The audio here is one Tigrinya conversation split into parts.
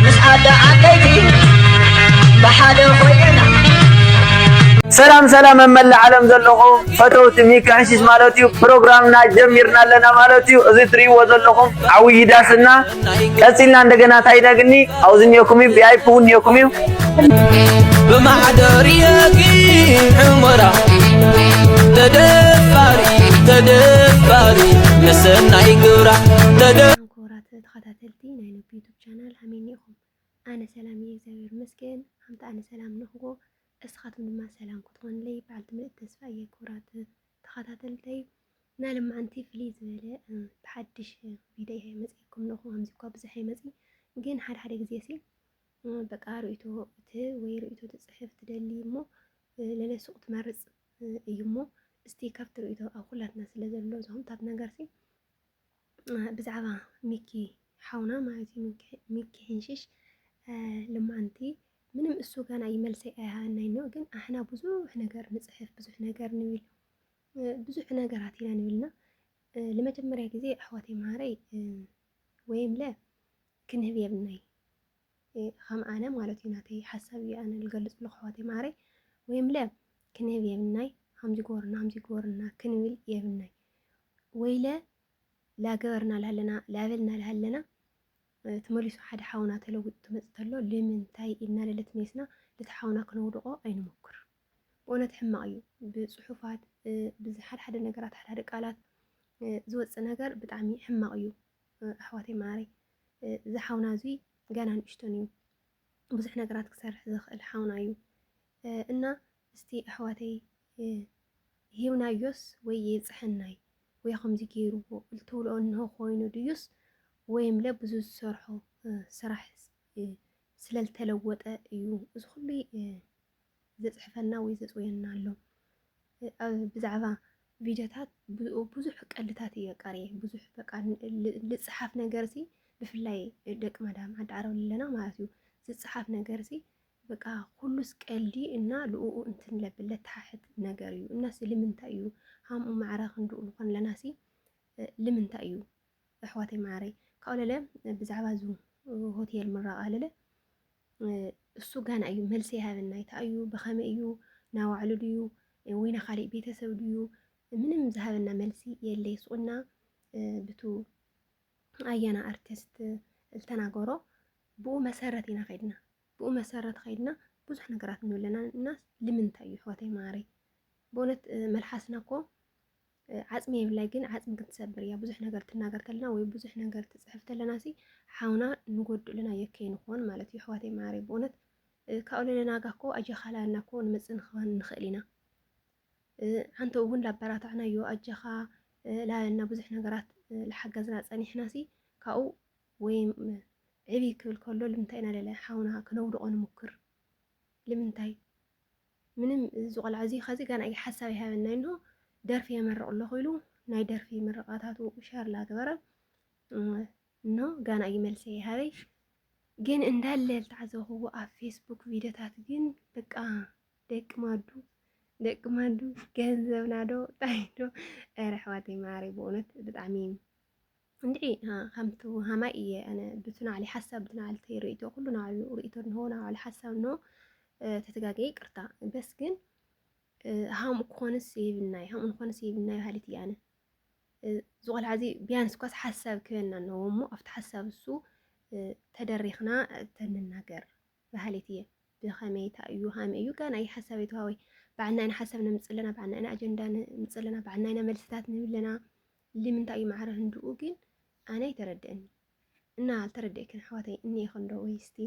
ምስ ኣደ ዓበይቲ ብሓደ ኮይና ሰላም ሰላም ኣብ መላእ ዓለም ዘለኹም ፈተውቲ ሚኪ ሕሽሽ ማለት እዩ ፕሮግራምና ጀሚርና ኣለና ማለት እዩ እዚ ትሪእዎ ዘለኹም ዓብዪ ዳስና ቀፂልና እንደገና እንታይ ነግኒ ኣብዚ እኒኦኩም እዩ ቪኣይፒ እውን እኒኦኩም እዩ ብማሕደር የጊ ዕሞራ ተደፋሪ ተደፋሪ መሰናይ ግብራ ተደ ተኸታተልቲ ናይ ነብ ዩቱብ ቻናል ሃመይኒ ኢኹም ኣነ ሰላም እየ እግዚኣብሔር ይመስገን ሃምቲ ኣነ ሰላም ንክዎ እስኻትም ድማ ሰላም ክትኾንለይ በዓልቲ ምልእቲ ተስፋ እየ ክብራት ተኸታተልተይ ናይ ልማዓንቲ ፍልይ ዝበለ ብሓድሽ ቪድዮ እየ መፅኤኩም ለኹ ከምዚ እኳ ብዙሕ ኣይመፅእ ግን ሓደ ሓደ ግዜ ሲ በቃ ርእቶ እቲ ወይ ርእቶ ትፅሕፍ ትደሊ እሞ ለለሱቕ ትመርፅ እዩ እሞ እስቲ ካብቲ ርእቶ ኣብ ኩላትና ስለ ዘሎ ዝኹምታት ነገር ሲ ብዛዕባ ሚኪ ሓውና ማለት እዩ ሚኪ ሕንሽሽ ልማንቲ ምንም እሱ ጋና ይመልሰይ ኣይሃናይ ነው ግን ኣሕና ብዙሕ ነገር ንፅሕፍ ብዙሕ ነገር ንብል ብዙሕ ነገራት ኢና ንብልና ለመጀመርያ ጊዜ ኣሕዋተይ መሃረይ ወይም ለ ክንህብ የብናይ ኸም ኣነ ማለት እዩ ናተይ ሓሳብ እዩ ኣነ ልገልፅ ኣለኹ ኣሕዋተይ ማዓረይ ወይ እምለ ክንህብ የብናይ ሃምዚ ጎርና ሃምዚ ጎርና ክንብል የብናይ ወይለ ላገበርና ልሃለና ላበልና ልሃለና ትመሊሱ ሓደ ሓውና ተለዊጡ ትመፅ ተሎ ልምንታይ ኢልና ለለት ሜስና ልቲ ሓውና ክነውድቆ ኣይንሞክር። ብእውነት ሕማቅ እዩ። ብፅሑፋት ብዝሓደ ሓደ ነገራት ሓደ ሓደ ቃላት ዝወፅእ ነገር ብጣዕሚ ሕማቅ እዩ። ኣሕዋተይ ማዓረይ እዚ ሓውና እዙይ ገና ንእሽቶን እዩ ብዙሕ ነገራት ክሰርሕ ዝኽእል ሓውና እዩ እና እስቲ ኣሕዋተይ ሂብናዮስ ወይ የፅሐናይ ወይ ከምዚ ገይርዎ እልትብልኦ እንሆ ኮይኑ ድዩስ ወይምለ ብዙ ዝሰርሖ ስራሕ ስለልተለወጠ እዩ እዚ ኩሉ ዘጽሕፈልና ወይ ዘጽውየና ኣሎ ብዛዕባ ቪድዮታት ብዙሕ ቀልድታት እየ ቀርየ ብዙሕ በቃ ልፅሓፍ ነገር ሲ ብፍላይ ደቂ መዳም ዓዲ ዓረብ ኣለና ማለት እዩ ዝፅሓፍ ነገር ሲ በቃ ኩሉስ ቀልዲ እና ልኡኡ እንትን ለብል ለተሓሕት ነገር እዩ እናሲ ልምንታይ እዩ ሃምኡ ማዕረ ክንድኡ ንኾን ኣለና ሲ ልምንታይ እዩ ኣሕዋተይ ማዓረይ ካብኡ ለለ ብዛዕባ ዙ ሆቴል ምራቃ ለለ እሱ ጋና እዩ መልሲ ይሃበና ይታ እዩ ብኸመይ እዩ ናባዕሉ ድዩ ወይ ናካሊእ ቤተሰብ ድዩ ምንም ዝሃበና መልሲ የለ ይስቁና ብቱ ኣያና ኣርቲስት ዝተናገሮ ብኡ መሰረት ኢና ከድና ብኡ መሰረት ከድና ብዙሕ ነገራት ንብለና እና ልምንታይ እዩ ሕወተይ ማረይ ብእውነት መልሓስና እኮ ዓጽሚ የብላይ ግን ዓጽሚ ግን ትሰብር እያ ብዙሕ ነገር ትናገር ተለና ወይ ብዙሕ ነገር ትጽሕፍ ተለና ሲ ሓውና ንጎድእ ለና የከይ ንኾን ማለት እዩ ኣሕዋተይ መዓረይ ብእውነት ካብኡ ለለናጋ እኮ ኣጀኻላና እኮ ንመጽእ ንክባን ንኽእል ኢና ሓንተ እውን ላበራታዕናዮ ኣጀኻ ላበልና ብዙሕ ነገራት ዝሓገዝና ፀኒሕና ሲ ካብኡ ወይ ዕብይ ክብል ከሎ ልምንታይ ኢና ለለ ሓውና ክነውድቆ ንምክር ልምንታይ ምንም እዚ ቆልዓ እዚ ኸዚ ገና እዩ ሓሳብ ይሃበናይ እንሆ ደርፊ የመርቕ ኣለኹ ኢሉ ናይ ደርፊ ምርቓታቱ ሸር ላገበረ እንሆ ጋና እዩ መልሲ ይሃበይ ግን እንዳለ ዝተዓዘብኹዎ ኣብ ፌስቡክ ቪዲዮታት ግን በቃ ደቂ ማዱ ደቂ ማዱ ገንዘብና ዶ ጣይዶ ኧረ ኣሕዋተይ ማሪ ብእውነት ብጣዕሚ እንድዒ ከምቲ ሃማይ እየ ኣነ ብቲ ናዕሊ ሓሳብ ብቲ ናዕልተይ ርእቶ ኩሉ ናዕሉ ርእቶ እንሆ ናዕሉ ሓሳብ እንሆ ተተጋገየ ይቅርታ በስ ግን ሃምኡ ክኾንስ የብልናይ ሃምኡ ንኾንስ የብልናይ በሃሊት እየ ኣነ እዚ ቆልዓ እዚ ቢያንስ እኳስ ሓሳብ ክበና ኣለዎ እሞ ኣብቲ ሓሳብ እሱ ተደሪኽና ተንናገር በሃሊት እየ ብኸመይ እታ እዩ ሃመ እዩ ጋና እዩ ሓሳብ የተዋወይ በዓልና ኢና ሓሳብ ነምፅእ ኣለና በዓልና ኢና ኣጀንዳ ነምፅእ ኣለና በዓልና ኢና መልስታት ንህብ ኣለና ሊምንታይ እዩ ማዕረ ህንድኡ ግን ኣነ ኣይተረደእኒ እና ኣልተረደእክን ኣሕዋተይ እኒኤክን እንዶ ወይስ እቲ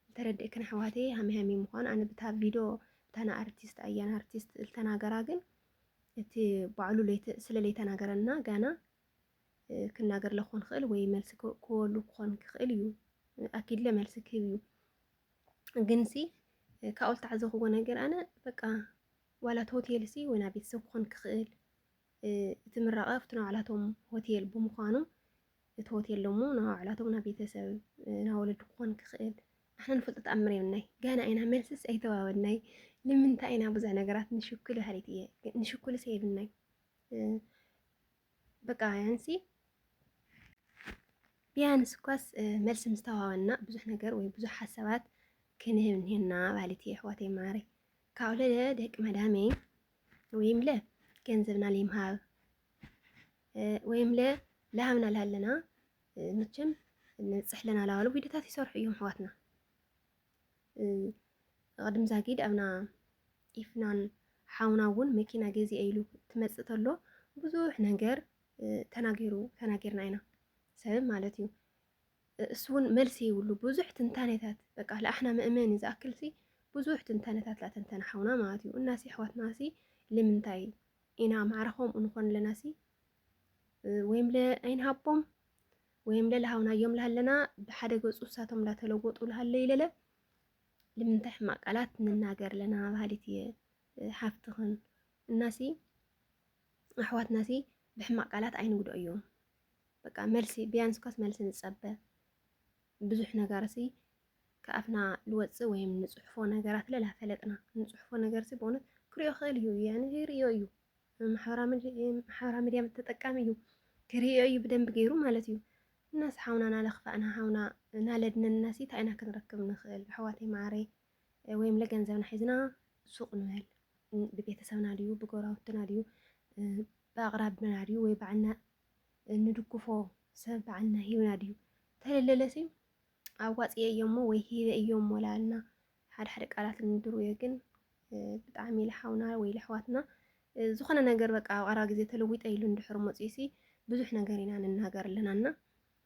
ልተረደእክን ኣሕዋተይ ሃሚ ሃሚ ምዃኑ ኣነ ብታ ቪዶ ብታና ኣርቲስት ኣያን ኣርቲስት ልተናገራ ግን እቲ ባዕሉ ስለ ለይተናገረና ጋና ክናገር ለኮን ክእል ወይ መልሲ ክወሉ ክኾን ክኽእል እዩ ኣኪድለ መልሲ ክህብ እዩ ግንሲ ካብኡ ዝተዓዘኽዎ ነገር ኣነ በቃ ዋላት ሆቴልሲ ወና ቤተሰብ ክኾን ክኽእል እቲ ምራቐ ኣብቲ ናይ ባዕላቶም ሆቴል ብምዃኑ እቲ ሆቴል ደሞ ናይ ባዕላቶም ናይ ቤተሰብ ናይ ወለዲ ክኾን ክኽእል ንሕና ንፈልጦ ተኣምር የብልናይ ገና ኢና መልስስ ኣይተዋወድናይ ንምንታይ ኢና ብዙሕ ነገራት ንሽኩል በሃሊት እየ ንሽኩልስ የብልናይ በቃ ያንሲ ቢያንስ እኳስ መልሲ ምስ ተዋወና ብዙሕ ነገር ወይ ብዙሕ ሓሳባት ክንህብ እኒሄና በሃሊት እየ ኣሕዋተይ ማዕረይ ካብኡ ለለ ደቂ መዳመይ ወይም ለ ገንዘብና ሊምሃብ ወይም ለ ላሃብና ላሃለና መቸም ንፅሕለና ላባሉ ቪዲዮታት ይሰርሑ እዮም ኣሕዋትና ቅድም ዛጊድ ኣብና ኢፍናን ሓውና እውን መኪና ገዜ ኢሉ ትመፅእ ተሎ ብዙሕ ነገር ተናጊሩ ተናጊርና ኢና ሰብ ማለት እዩ እሱ እውን መልሲ ይብሉ ብዙሕ ትንታኔታት በቃ ለኣሕና መእመኒ ዝኣክልሲ ብዙሕ ትንታኔታት ላተንተነ ሓውና ማለት እዩ እናሲ ኣሕዋትናሲ ልምንታይ ኢና ማዕረ ከምኡ ንኾን ኣለናሲ ወይም ለ ኣይንሃቦም ወይም ለ ለሃውናዮም ለሃለና ብሓደ ገፁ እሳቶም እንዳተለወጡ ለሃለ ይለለ ልምንታይ ሕማቅ ቃላት ንናገር ለና ባህሊት እየ ሓፍትኽን እናሲ ኣሕዋትናሲ ብሕማቅ ቃላት ኣይንጉድኦ እዮም በቃ መልሲ ቢያንስ ኳስ መልሲ ንጸበ ብዙሕ ነገር ሲ ከኣፍና ልወፅእ ወይም ንፅሑፎ ነገራት ለላ ፈለጥና ንፅሑፎ ነገር ሲ በእውነት ክሪኦ ክእል እዩ ያኒ ይሪኦ እዩ ማሕበራ ሚዲያ ተጠቃሚ እዩ ክሪኦ እዩ ብደንብ ገይሩ ማለት እዩ እናስ ሓውና ናለኽፋእና ሓውና ናለድነና ሲ እንታይ ኢና ክንረክብ ንኽእል ኣሕዋተይ ማዓረይ ወይም ለገንዘብና ሒዝና ሱቕ ንበል። ብቤተሰብና ድዩ ብጎራውትና ድዩ ብኣቕራብና ድዩ ወይ ባዕልና እንድግፎ ሰብ ባዕልና ሂብና ድዩ ተለለለስ እዩ ኣዋፅኤ እዮ እሞ ወይ ሂበ እዮ እሞ ላልና ሓደ ሓደ ቃላት እንድሩ እየ ግን ብጣዕሚ ልሓውና ወይ ልሕዋትና ዝኾነ ነገር በቃ ኣብ ቀረባ ግዜ ተለዊጠ ኢሉ እንድሕር መፅኡ ሲ ብዙሕ ነገር ኢና ንናገር ኣለና እና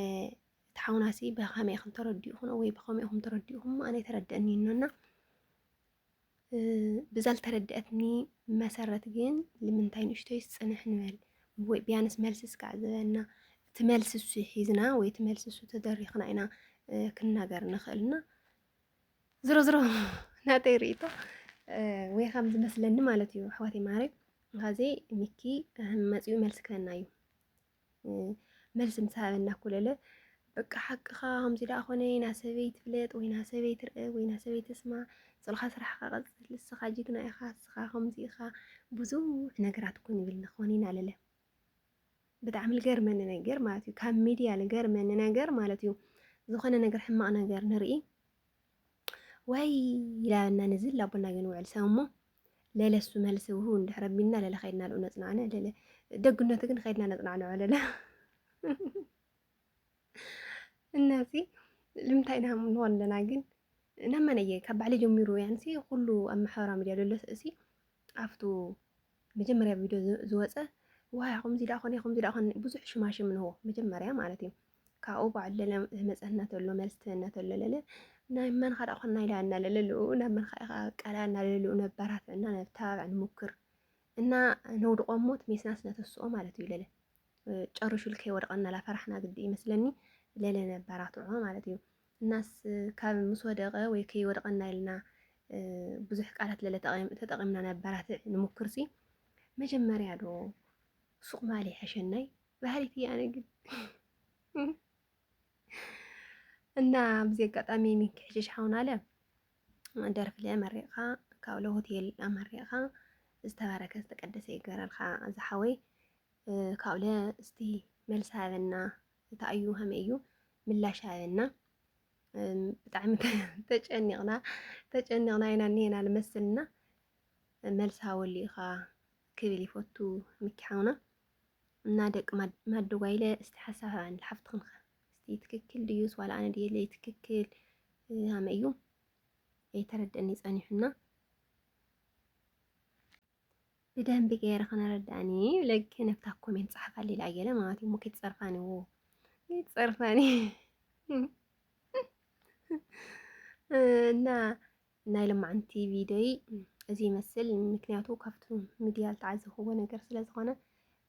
እቲ ሓውናሲ ብኸመይ ኢኹም ተረዲኡኹም ወይ ብኸመይ ኢኹም ተረዲኡኹም ኣነ ተረድአኒ እኖና ብዛ ልተረድአትኒ መሰረት ግን ልምንታይ ንእሽቶይስ ፅንሕ ንበል ወይ ቢያንስ መልሲ ስካዕ ዝበና እቲ መልሲ እሱ ሒዝና ወይ እቲ መልሲ እሱ ተደሪኽና ኢና ክንናገር ንኽእልና ዝሮ ዝሮ ናተይ ርእቶ ወይ ከም ዝመስለኒ ማለት እዩ ኣሕዋተይ ማረይ ሀዜ ሚኪ መፅኡ መልሲ ክህበና እዩ መልሲ ምስ ሃበና ኩለለ በቃ ሓቅኻ ከምዚ ደኣ ኮነ ኢና ሰበይ ትፍለጥ ወይና ሰበይ ትርእ ወይና ሰበይ ትስማ ጽልኻ ስራሕኻ ቀጽል ንስኻ ጅግና ኢኻ ንስኻ ከምዚ ኢኻ ብዙሕ ነገራት ኮን ይብልና ኮን ኢና ለለ ብጣዕሚ ዝገርመኒ ነገር ማለት እዩ ካብ ሚድያ ዝገርመኒ ነገር ማለት እዩ ዝኾነ ነገር ሕማቕ ነገር ንርኢ ወይ ይላበና ንዝል ላቦና ግን ውዕል ሰው እሞ ለለ እሱ መልስ ውሁ እንድሕረ ቢና ለለ ከይድና ልኡ ነፅናዕነ ለለ ደግነቱ ግን ከይድና ነፅናዕንዖ ለለ እናዚ ልምንታይ ኢና ንኾን ኣለና ግን እናመነየ ካብ ባዕለ ጀሚሩ ያንሲ ኩሉ ኣብ ማሕበራዊ ሚዲያ ለሎ እሲ ኣብቱ መጀመርያ ቪድዮ ዝወፀ ዋያ ከምዚ ዳኣ ኮነ ከምዚ ዳኣ ኮነ ብዙሕ ሽማሽም ንሆ መጀመርያ ማለት እዩ ካብኡ ባዕሉ ዝመፀና ተሎ መልሲ ትህበና ተሎ ለለ ናይ መንኻ ዳኣ ኮና ኢላ እና ለለልኡ ናብ መንኻ ኢኻ ቀላ እና ለለልኡ ነባራት እና ነተባብዕ ንሙክር እና ነውድቆ ሞት ሜስናስ ነተስኦ ማለት እዩ ለለ ጨርሹ ልከ ወድቀና ላፈራሕና ግዲ ይመስለኒ ለለ ነባራትዖ ማለት እዩ እናስ ካብ ምስ ወደቀ ወይ ከይወድቀና ኢልና ብዙሕ ቃላት ለለ ተጠቂምና ነባራትዕ ንሙክር ሲ መጀመርያ ዶ ሱቅ ማል ይሐሸናይ ባህሪት እያ ነግን እና ብዚ ኣጋጣሚ ሚኪ ሕሽሽ ሓውና ኣለ ደርፍለ መሪቕኻ ካብ ሎ ሆቴል ኣመሪቕኻ ዝተባረከ ዝተቀደሰ ይገረልካ ዝሓወይ ካብለ እስቲ መልሲ ሃበና እንታይ እዩ ሃመ እዩ ምላሽ ሃበና ብጣዕሚ ተጨኒቕና ተጨኒቕና ኢና እኒሄና ልመስልና መልሲ ሃበሉ ኢኻ ክብል ይፈቱ ምኪ ሓውና እና ደቂ ማደጓይ ኢለ እስቲ ሓሳብ ሃባኒ ሓፍትኽን ከ እስቲ ትክክል ድዩስ ዋላ ኣነ ድየ ለይ ትክክል ሃመ እዩ ኣይተረደኒ ጸኒሑና ብደንቢ ገይረ ከነረዳእኒ ለግ ነብታ ኮሜንት ጸሓፋሊ ላየለ ማለት እዩ ሙኪት ጸርፋኒ ዎ ጸርፋኒ እና ናይ ለማዓንቲ ቪድዮይ እዚ ይመስል ምክንያቱ ካብቱ ሚድያ ዝተዓዘብክዎ ነገር ስለ ዝኮነ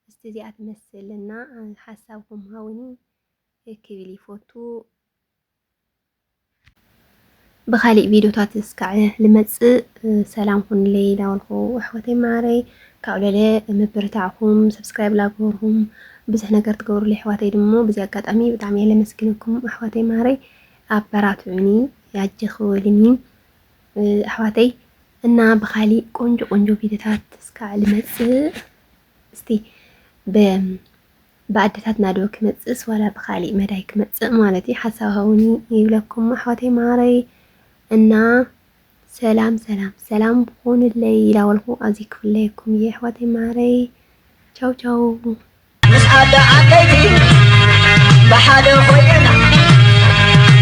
እስቲ እዚኣ ትመስል እና ሓሳብኩም ሃውኒ ክብል ይፎቱ ብካሊእ ቪድዮታት እስካዕ ልመፅእ ሰላም ኩንለይ ዳበልኩ ኣሕዋተይ ማዓረይ ካብ ለለ ምብርታዕኩም ሰብስክራይብ ላግበርኩም ብዙሕ ነገር ትገብሩለይ ኣሕዋተይ ድሞ ብዚ ኣጋጣሚ ብጣዕሚ እየ ለመስግነኩም ኣሕዋተይ ማዓረይ ኣበራትዑኒ ያጀኺ ወልኒ ኣሕዋተይ እና ብካሊእ ቆንጆ ቆንጆ ቪድዮታት እስካዕ ልመፅእ እስቲ ብኣደታትና ዶ ክመፅእስ ዋላ ብካሊእ መዳይ ክመፅእ ማለት እዩ ሓሳብ ሃውኒ ይብለኩም ኣሕዋተይ ማረይ እና ሰላም ሰላም ሰላም ብኮንለይ ይላወልኩ ኣዚ ክፍለየኩም እየ ኣሕዋተይ ማረይ ቻው ቻው ምስ ኣደ ዓበይቲ ብሓደ ኮይና